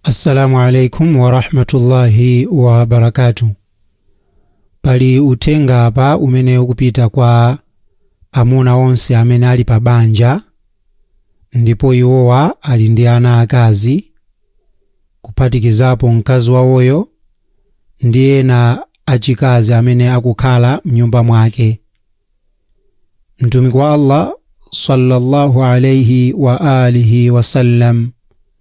Assalamu alaikum warahmatullahi wabarakatu. Pali uthenga apa umene ukupita kwa amuna onse amene ali pa banja ndipo iwowa ali ndi ana akazi kuphatikizapo mkazi wawoyo ndi ena achikazi amene akukhala mnyumba mwake. Mtumiki wa Allah sallallahu alaihi wa alihi wasallam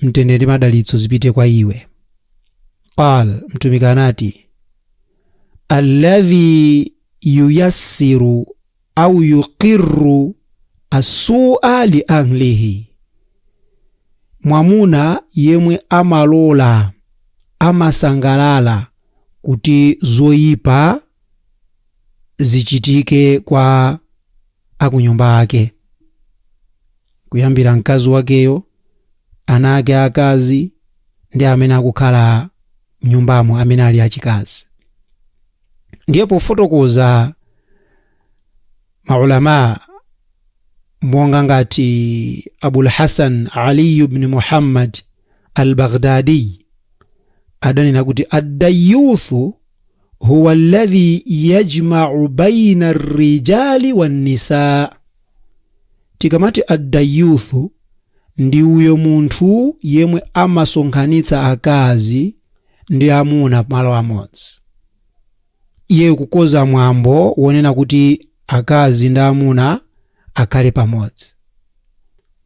mtendere ndi madalitso zipite kwa iye qal mtumiki anati alladhi yuyassiru au yuqirru asua li ahlihi mwamuna yemwe amalola amasangalala kuti zoyipa zichitike kwa akunyumba ake kuyambira mkazi wakeyo, ana ake aakazi ndi amene akukhala m'nyumbamo amene ali achikazi. Ndiye pofotokoza maulama monga ngati Abul Hasan Ali ibn Muhammad al-Baghdadi adanena kuti ad-dayyuthu huwa alladhi yajma'u bayna ar-rijali wan-nisaa Tikamati Ad-Dayyuth ndi uyo munthu yemwe amasonkhanitsa akazi ndi amuna malo amodzi. Iyeyo kukonza mwambo wonena kuti akazi ndi amuna akhale pamodzi.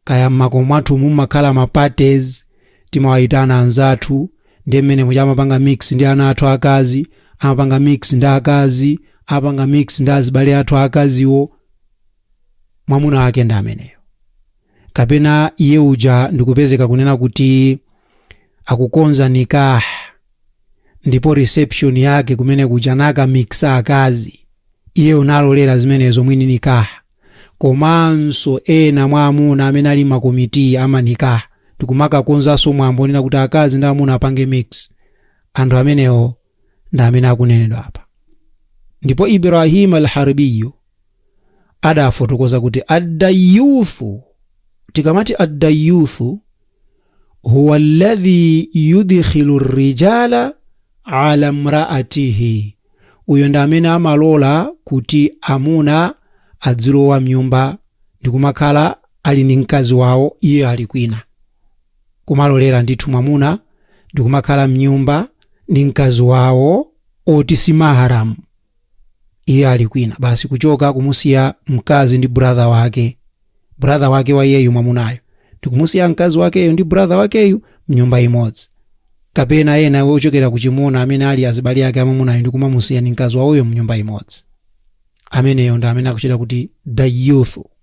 Kaya m'makomo mwathu mumakhala ma parties, timawayitana anzathu ndiye mmene muja amapanga mix ndi ana athu akazi, amapanga mix ndi akazi, amapanga mix ndi azibale athu akaziwo. mwamuna wake ndi ameneyo kapena iye uja ndikupezeka kunena kuti akukonza nikah ndipo reception yake kumene kuja nakamixa akazi iyeyo nalolera zimenezo mwini nikah komanso ena mwa amuna amene ali makomiti a manikah ndikumakakonzanso mwambo onena kuti akazi ndi amuna apange mix anthu amenewo ndi amene akunenedwa apa ndipo ibrahim alharbiyu adafotokoza kuti addayuthu tikamati addayuthu huwa alladhi yudkhilu rijala ala mraatihi uyo ndi amene amalola kuti amuna adzilowa mnyumba ndikumakhala ali ndi mkazi wawo iye ali kwina kumalolera ndithu mwamuna ndikumakhala mnyumba ndi mkazi wawo oti si mahram iye ali kwina basi kuchoka kumusiya mkazi ndi brother wake brother wake wa iyeyu mwamunayo ndikumusiya mkazi wakeyo ndi brother wakeyu mnyumba imodzi kapena ena ochokera kuchimuna amene ali azibali ake amamunayo ndikumamusiya ndi mkazi wawoyo mnyumba imodzi ameneyo ndi amene akuchita kuti dayuthu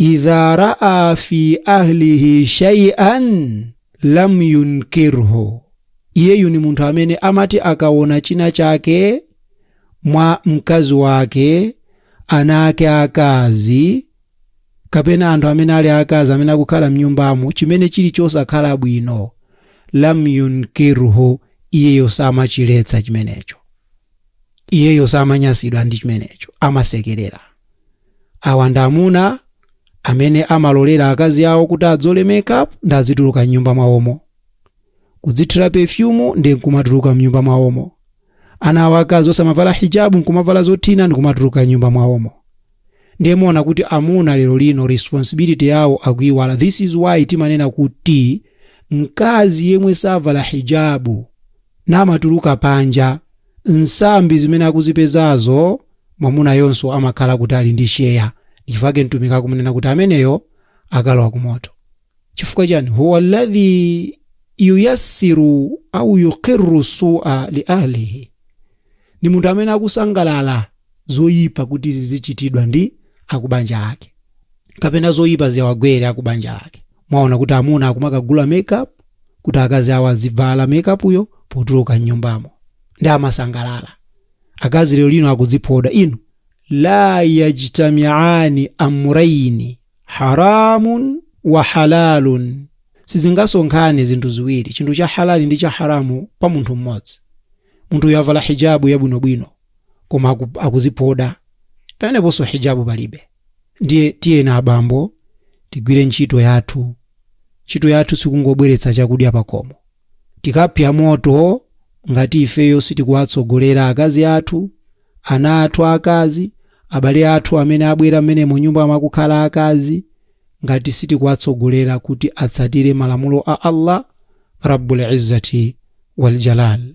Idha raa fi ahlihi shay'an lam yunkirhu, iyeyu ni munthu amene amati akaona china chake mwa mkazi wake, ana ake akazi kapena anthu amene ali akazi amene akukhala mnyumbamo chimene chili chosakhala bwino, lam yunkirhu, iyeyo samachiletsa chimenecho. iyeyo samanyasidwa ndi chimenecho amasekerera awa ndi amuna amene amalolera akazi awo kuti adzole makeup ndi azituluka mnyumba mwawomo kudzithira pefyumu ndi nkumatuluka mnyumba mwawomo ana awo akazi osamavala hijabu nkumavala zothina ndi kumatuluka mnyumba mwawomo ndiye muona kuti amuna lero lino responsibility yawo akuiwala this is why timanena kuti mkazi yemwe savala hijabu namatuluka panja nsambi zimene akuzipezazo mwamunayonso amakhala kuti ali ndi sheya chifukwa mtumiki akumunena kuti ameneyo akalowa kumoto chifukwa chani huwa alladhi yuyassiru au yuqirru sua li ahlihi ndi munthu amene akusangalala zoyipa kuti zizichitidwa ndi akubanja lake kapena zoyipa ziyawagwere akubanja lake mwaona kuti amuna akumakagula makeup kuti akazi awo azivala makeupyo potuluka mnyumbamo ndi amasangalala akazi lero lino akudziphoda inu la yajtamiani amraini haramun wa halalun sizingasonkhane zinthu ziwiri chinthu cha halali ndi cha haramu pa munthu mmodzi munthuyo avala hijabu yabwinobwino koma aku, akuziphoda peneponso hijabu palibe ndiye tiyeni abambo tigwire ntchito yathu ntchito yathu sikungobweretsa chakudya pakomo tikapsa moto ngati ifeyo sitikuwatsogolera akazi athu ana athu akazi, abale athu amene abwera mmene mu nyumba mwakukhala akazi, ngati sitikuwatsogolera kuti atsatire malamulo a Allah Rabbul Izzati wal Jalaal.